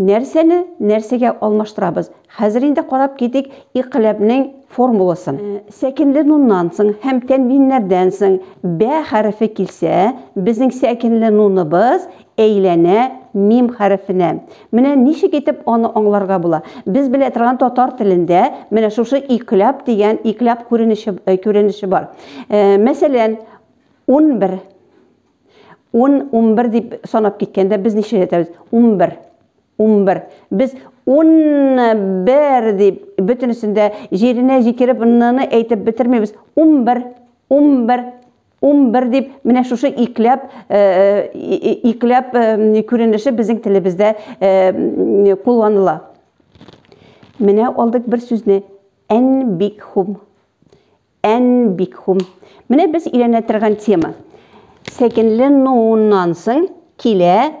Нәрсәне нәрсәгә алмаштырабыз? Хәзер инде карап китик икъләбнең формуласын. Сәкенле нуннан соң һәм тәнвиннәрдән соң бә хәрефе килсә, безнең сәкенле нуныбыз әйләнә мим хәрефенә. Менә ничек итеп аны аңларга була. Без белә торган татар телендә менә шушы икъләб дигән икъләб күренеше күренеше бар. Мәсәлән, унбер. ун унбер дип санап киткәндә без ничә әйтәбез унбер унбер без унбер дип бөтенесендә җиренә җикереп ныны әйтеп бетермибез унбер унбер унбер дип менә шушы икләп э, э, икләп э, күренеше безнең телебездә кулланыла менә алдык бер сүзне әнбикхум Әнбикхум. Менә без өйрәнә торган тема. Сәкенле нуннан соң килә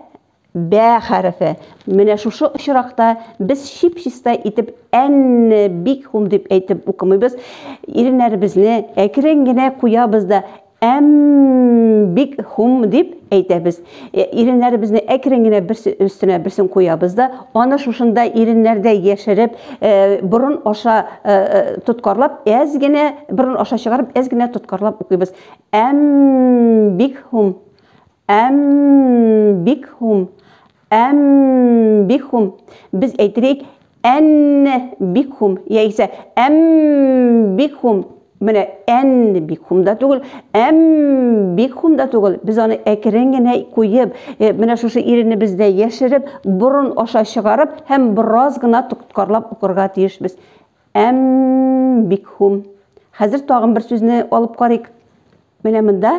бә хәрефе. Менә шушы очракта без чип-чиста итеп әнбикхум дип әйтеп укымыйбыз. Иреннәребезне әкрен генә куябыз да Әм, бик хум дип әйтәбез. Э, иреннәребезне әкрен генә берсе өстенә берсен куябыз да, аны шушында иреннәрдә яшереп, э, борын аша э, тоткарлап, әз генә борын аша чыгарып, әз генә тоткарлап укыйбыз. Әм, бик хум. Әм, бик хум. Әм бихум. Без әйтелик, ән бихум. Я исә, әм бихум. Менә ән бихум да түгел, әм бихум да түгел. Без аны әкрен генә куеп, э, менә шушы ирене бездә яшереп, борын аша чыгарып, һәм бераз гына тоткарлап укырга тиешбез. Әм бихум. Хәзер тагын бер сүзне алып карыйк. Менә монда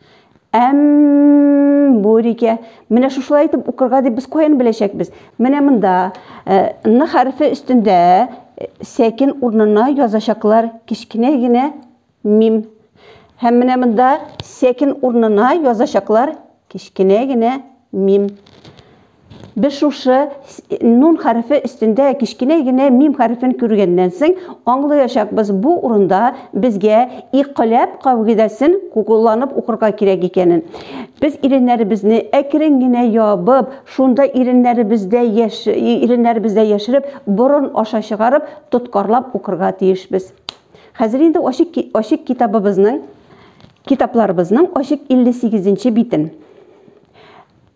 Әм бүрикә. Менә шушылай итеп укырга дип без каян беләчәкбез? Менә монда э, н хәрефе өстендә э, сәкин урынына язачаклар кечкенә генә мим. Һәм менә монда сәкин урынына язачаклар кечкенә генә мим. Без шушы нун хәрефе өстендә кечкенә генә мим хәрефен күргәннән соң аңлыячакбыз, бу урында безгә икъләб кагыйдәсен кулланып укырга кирәк икәнен. Без иреннәребезне әкрен генә ябып, шунда иреннәребездә яш, иреннәребездә яшереп, борын аша чыгарып, тоткарлап укырга тиешбез. Хәзер инде ачык, ачык китабыбызның, китапларыбызның ачык 58 нче битен.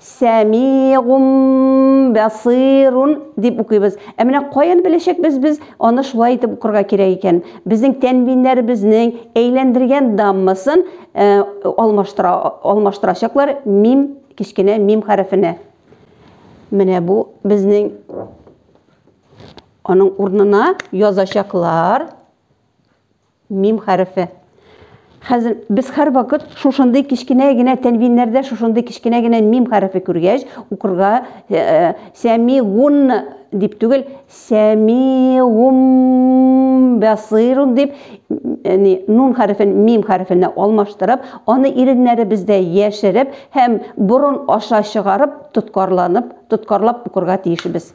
Сәмигъун басыйрун дип укыйбыз. Ә менә каян беләчәкбез без аны шулай итеп укырга кирәк икән? Безнең тәнвиннәребезнең әйләндергән даммасын э, алмаштыра, алмаштырачаклар мим, кечкенә мим хәрефенә. Менә бу безнең аның урнына язачаклар Мим хәрефе. Хәзер без һәрвакыт шушындый кечкенә генә тәнвиннәрдә шушындый кечкенә генә мим хәрефе күргәч, укырга сәмигун дип түгел, сәмигум басирун дип яни нун хәрефен мим хәрефенә алмаштырып, аны иреннәребездә яшереп һәм борын аша чыгарып, тоткарланып, тоткарлап укырга тиешбез.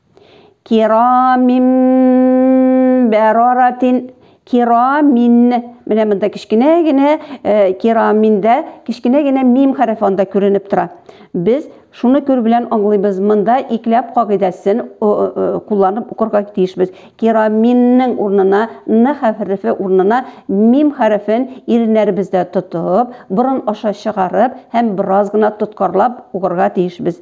Кирамин бәраратин кирамин менә монда кечкенә генә э, кираминдә кечкенә генә мим хәрефе анда күренеп тора без шуны күр белән аңлыйбыз монда икләп кагыйдәсен кулланып укырга тиешбез кираминнең урынына н хәрефе урынына мим хәрефен иреннәребездә тотып борын аша чыгарып һәм бераз гына тоткарлап укырга тиешбез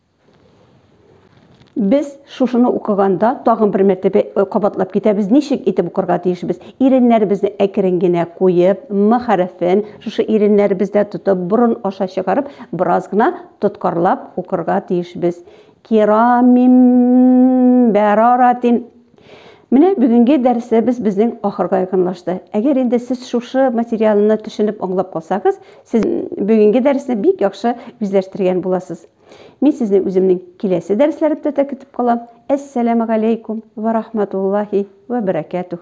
Без шушыны укыганда тагын бер мәртәбә э, кабатлап китәбез, ничек итеп укырга тиешбез? Иреннәребезне әкрен генә куеп, м хәрефен шушы иреннәребездә тотып, борын аша чыгарып, бераз гына тоткарлап укырга тиешбез. Кирамим бәраратин Менә бүгенге дәресебез безнең ахырга якынлашты. Әгәр инде сез шушы материалны төшенеп аңлап калсагыз, сез бүгенге дәресне бик яхшы үзләштергән буласыз. Мин сезне үземнең киләсе дәресләремдә дә көтеп калам. Әссәламәгаләйкүм вә рахматуллахи вә бәрәкәтүх.